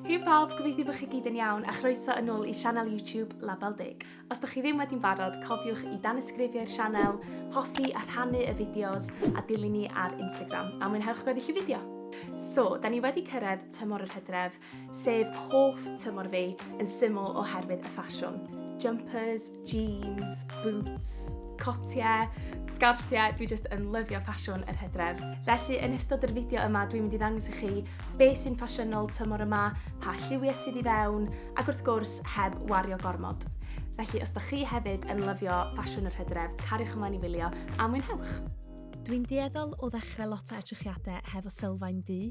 Hei pawb, gobeithio bod chi gyd yn iawn a chroeso yn ôl i sianel YouTube Label Deg. Os da chi ddim wedi'n barod, cofiwch i danysgrifio i'r sianel, hoffi a rhannu y fideos a dilyn ni ar Instagram a mwynhewch gweddill y fideo! So, da ni wedi cyrraedd tymor yr hydref, sef hoff tymor fi, yn syml oherwydd y ffasiwn. Jumpers, Jeans, boots, cotiau, sgarffiau, dwi jyst yn lyfio ffasiwn yr hydref. Felly yn ystod yr fideo yma dwi'n mynd i ddangos i chi beth sy'n ffasiynol tymor yma, pa lliwiau sydd i fewn, ac wrth gwrs heb wario gormod. Felly os da chi hefyd yn lyfio ffasiwn yr hydref, cariwch ymlaen i wylio a mwynhewch! Dwi'n dueddol o ddechrau lot o edrychiadau hefo sylfaen du,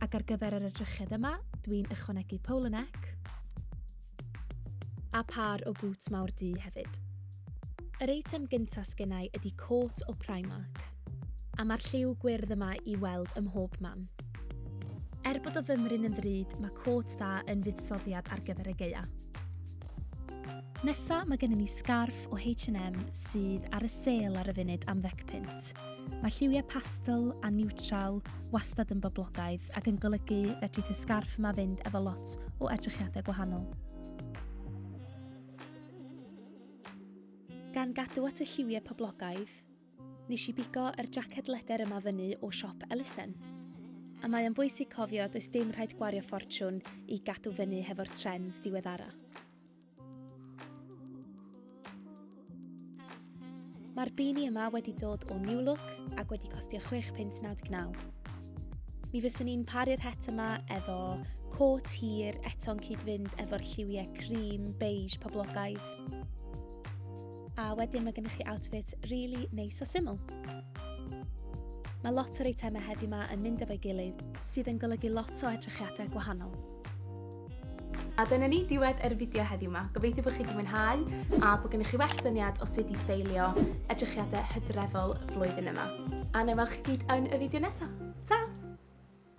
Ac ar gyfer yr edrychiad yma, dwi'n ychwanegu pole neck. A pâr o bŵts mawr du hefyd. Yr eitem gyntaf sgennau ydy côt o Primark. A mae'r lliw gwyrdd yma i weld ym mhob man. Er bod o fymryn yn ddrud, mae côt dda yn fuddsoddiad ar gyfer y geia. Nesa mae gennym ni sgarff o H&M sydd ar y sêl ar y funud am ddec punt. Mae lliwiau pastel a niwtral wastad yn boblogaidd ac yn golygu fedrith y sgarff yma fynd efo lot o edrychiadau gwahanol. Gan gadw at y lliwiau poblogaidd, nes i bigo yr jacket leder yma fyny o siop Ellison. A mae o'n bwysig cofio does dim rhaid gwario ffortiwn i gadw fyny hefo'r trends diweddara. Mae'r bini yma wedi dod o New Look ac wedi costio 6 pint 99. Mi fyswn i'n paru'r het yma efo côt hir eto'n cyd-fynd efo'r lliwiau cream, beige, poblogaidd. A wedyn mae gennych chi outfit really neis a syml. Mae lot o'r eitemau heddi yma yn mynd efo'i gilydd, sydd yn golygu lot o edrychiadau gwahanol. A dyna ni, diwedd yr fideo heddiw yma. Gobeithio bod chi wedi mwynhau a bod gennych chi well syniad o sut i steilio edrychiadau hydrefol flwyddyn yma. A na welwch chi gyd yn y fideo nesaf. Ta!